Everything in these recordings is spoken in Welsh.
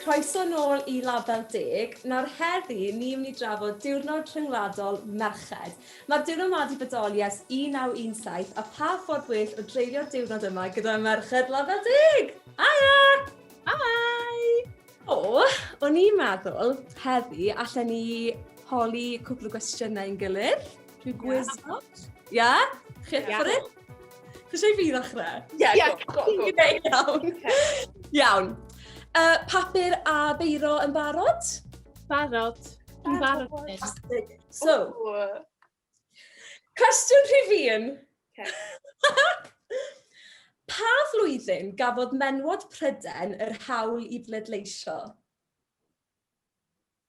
Croeso nôl i Label Deg. Nawr heddi ni myn' i drafod Diwrnod Rhyngwladol Merched. Ma'r diwrnod 'ma 'di bodoli ers 1917 a pha ffordd well o dreulio'r diwrnod yma gyda merched Label Deg! Haia! Hi! O, o'n i'n meddwl heddi allen ni holi cwpl o gwestiyne i'n gilydd. Dwi'n gwizio. Ia? Chi eich ffordd it? Chi eisiau fi ddechrau? Ia, go, go, go. Iawn. Iawn. Uh, papur a beiro yn barod? Barod. Yn barod. So, cwestiwn rhif un. pa flwyddyn gafodd menwod Pryden yr hawl i bleidleisio?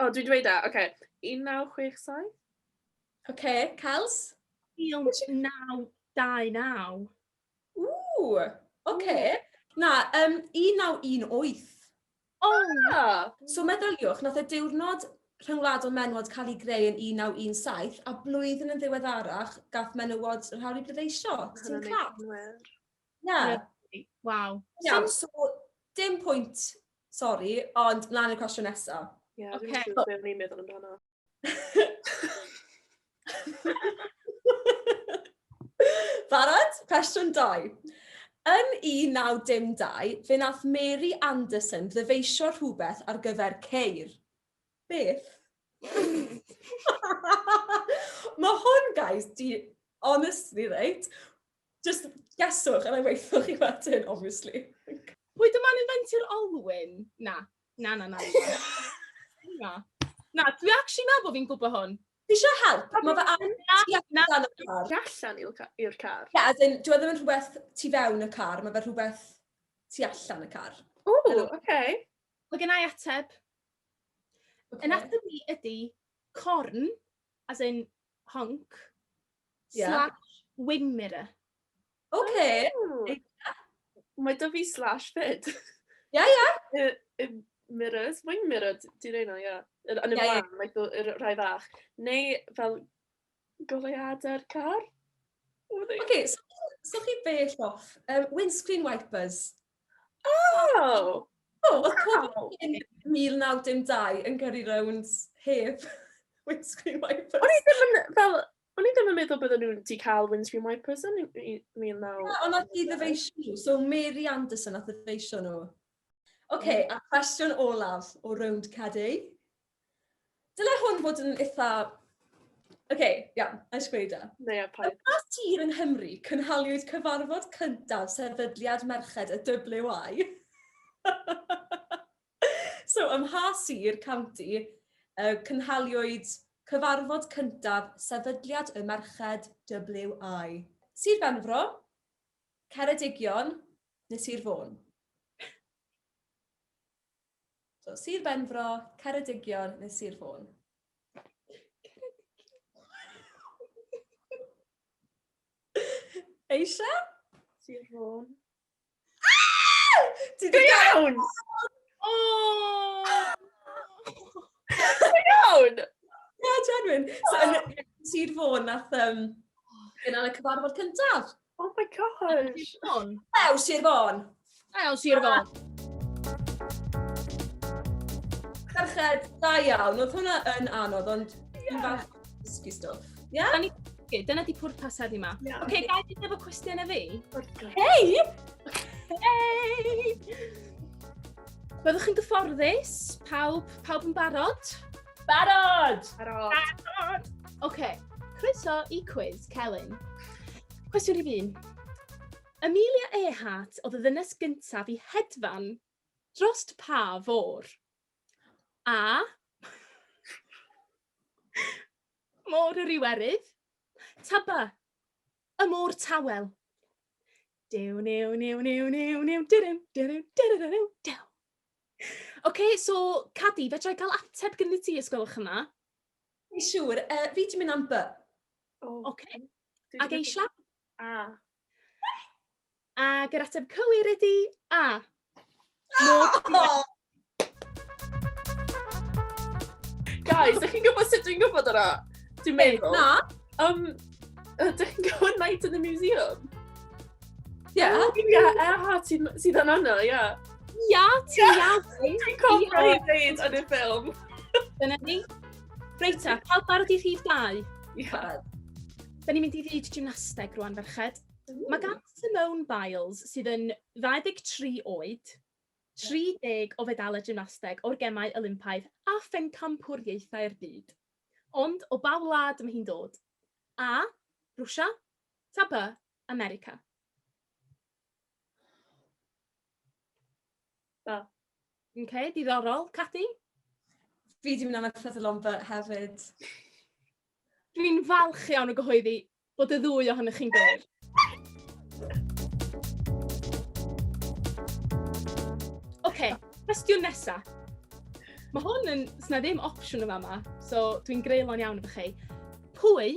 O, dwi'n dweud da, oce. 1967. Oce, Cels? 1929. Ww, oce. Na, um, 1918. O! Ah! So meddyliwch, nath y diwrnod rhyngwladol menwod cael ei greu yn 1917 a blwyddyn yn ddiweddarach gath menywod yr hawl i bleidleisio. Ti'n claf? Na. Waw. Iawn, so dim pwynt, sori, ond mlaen i'r cwestiwn nesa. Ie, okay. dwi'n siŵr beth ni'n meddwl amdano. Barod? Cwestiwn 2. Yn 1912, fe nath Mary Anderson ddyfeisio rhywbeth ar gyfer ceir. Beth? Mae hwn, guys, di honestly, reit, Just geswch a na i waethoch chi wedyn, obviously. Pwy dyma'n inventio'r olwyn? Na. Na, na, na. na. Na, dwi actually meddwl bod fi'n gwybod hwn. Ti eisiau help? Mae fe ar... Na, na, na. Allan i'r car? Ie, as in, dwi e ddim yn rhywbeth tu fewn y car, mae fe rhywbeth tu allan y car. O, oce. Okay. Mae gen i ateb. Okay. Yn ateb ni ydy corn, as in honk yeah. slash wing mirror. Okay. Oh. Yeah. Mae da fi slash fyd. Ia, ia. Y, y mirrors, wing mirror, ti'n ei na, ia. Yn y blaen, yeah. like, yr rhai fach. Neu fel goleuadau'r car. Oce, okay, so, so chi bell off. Um, windscreen wipers. O! O, oedd pobl yn 1912 yn gyrru rownd heb windscreen wipers? O'n i ddim yn, fel, o'n i ddim yn meddwl bydden nhw'n wedi cael windscreen wipers yn 19... Ond wnaeth hi ddyfeisio nhw, so Mary Anderson wnaeth ddyfeisio nhw. Ocê, a cwestiwn olaf o rownd Cadi. Dyle hwn fod yn eitha... Oce, okay, iawn, a eisiau gweud e. Neu a paid. Yn mas tir yng Nghymru, cynhaliwyd cyfarfod cyntaf sefydliad merched y WI. so, ym mha sir, county, uh, cynhaliwyd cyfarfod cyntaf sefydliad y merched WI. Sir Benfro, Ceredigion neu Sir Fôn? So, Sir Benfro, Ceredigion neu Sir Fôn? Eisiau? Sir Fôn. Ti Go iawn! O! Go iawn! Na, genuine. So, yn Sir Fôn, nath um, gynnal y cyfarfod cyntaf. Oh my gosh! Ew, Sir Fôn! Ew, Sir Fôn! Carched, da iawn. Oedd hwnna yn anodd, ond dwi'n falch dysgu stwff. Ia? Da ni dysgu, dyna di pwrpas heddi yma. Oce, okay, gael i efo cwestiwn e fi? Hei! Hei! Byddwch chi'n gyfforddus? Pawb, pawb yn barod? Barod! Barod! Barod! Oce, okay. croeso i Quiz Celyn. Cwestiwn rhif un. Amelia Earhart oedd y ddynes gyntaf i hedfan drost pa fôr? A. Môr yr Iwerydd. Taba. Y môr tawel. Dew, new, new, new, new, new, dyrym, dyrym, dyrym, dyrym, dew. Ocê, so Cadi, fedra i gael ateb gyda ti, os gwelwch yn dda? Ie, siŵr. Yy, fi 'di mynd am by. Ocê. A geisha? A. Ac yr ateb cywir ydi A. Guys, ydych chi'n gwybod sut dwi'n gwybod yna? Dwi'n meddwl. Na. Um, ydych chi'n gwybod Night in the Museum? Ie, yeah, oh, ie, yeah, Eha sydd sydd yn yna, ie. Yeah. Ia, ti ia. Ti'n cofio i ddeud yn y ffilm. Dyna ni. Reit ta, cael barod i rhif dau. Ia. Da ni'n mynd i ddweud gymnasteg rwan, ferched. Mae gan Simone Biles, sydd yn 23 oed, 30 o fedalau gymnasteg o'r gemau Olympaidd a phencampwriaethau'r byd. Ond o ba wlad mae hi'n dod? A. Rwsia. Tapa. America. Da. OK, diddorol. Cathy? Fi di mynd am y Prydyl Omber hefyd. Dwi'n falch iawn o gyhoeddi bod y ddwy ohonych chi'n gywir. OK, cwestiwn nesa. Mae hwn yn... Sna ddim opsiwn yma yma, so dwi'n greulon iawn efo chi. Pwy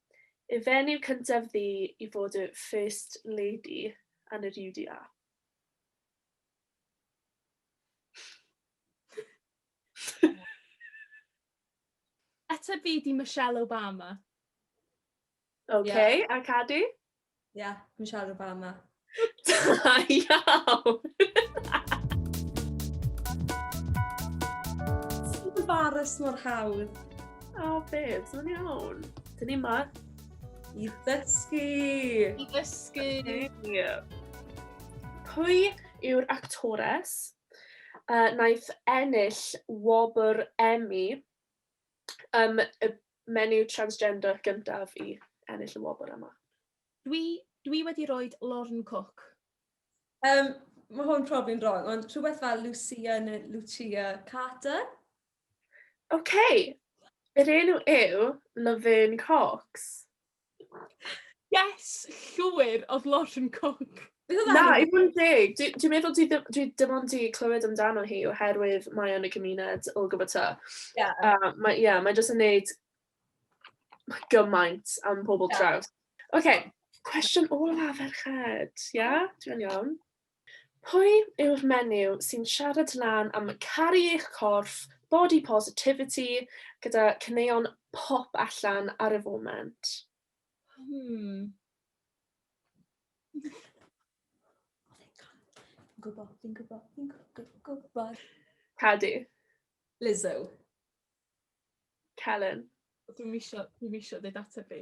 Y fenyw cyntaf ddu i fod y 'First Lady' yn yr UDA. Ateb fi 'di Michelle Obama. Ok, a Cadi? Ie, yeah, dwi'n siarad o'r ba yma. Da iawn! Ti'n embarrass mor hawdd. O, oh, babes, mae'n iawn. Dyn ni ma. I ddysgu! I ddysgu! Pwy yw'r actores uh, naeth ennill wobr Emmy um, y Menyw transgender gyntaf i ennill y wobr yma. Dwi, dwi wedi roed Lorn Cook. Um, mae hwn profi'n wrong, ond rhywbeth fel Lucia neu Lucia Carter. OK, yr enw yw Laverne Cox. Yes, llwyr, oedd Lauren Cook. Na, i fod yn deg, dwi'n dwi meddwl dwi, dwi dim ond i clywed amdano hi oherwydd mae o'n y gymuned o gwybod ta. Yeah. Uh, mae, yeah, mae jyst yn neud gymaint am pobl yeah. traws. Oce, okay, cwestiwn ola ferched, ia? Yeah? Dwi'n iawn. Pwy yw'r menyw sy'n siarad lan am caru eich corff, body positivity, gyda caneuon pop allan ar y foment? Hmm. Gwybod, fi'n gwybod, fi'n gwybod. Cadw. Lizzo. Celen. Dwi'n misio, dwi'n misio dweud ateb fi.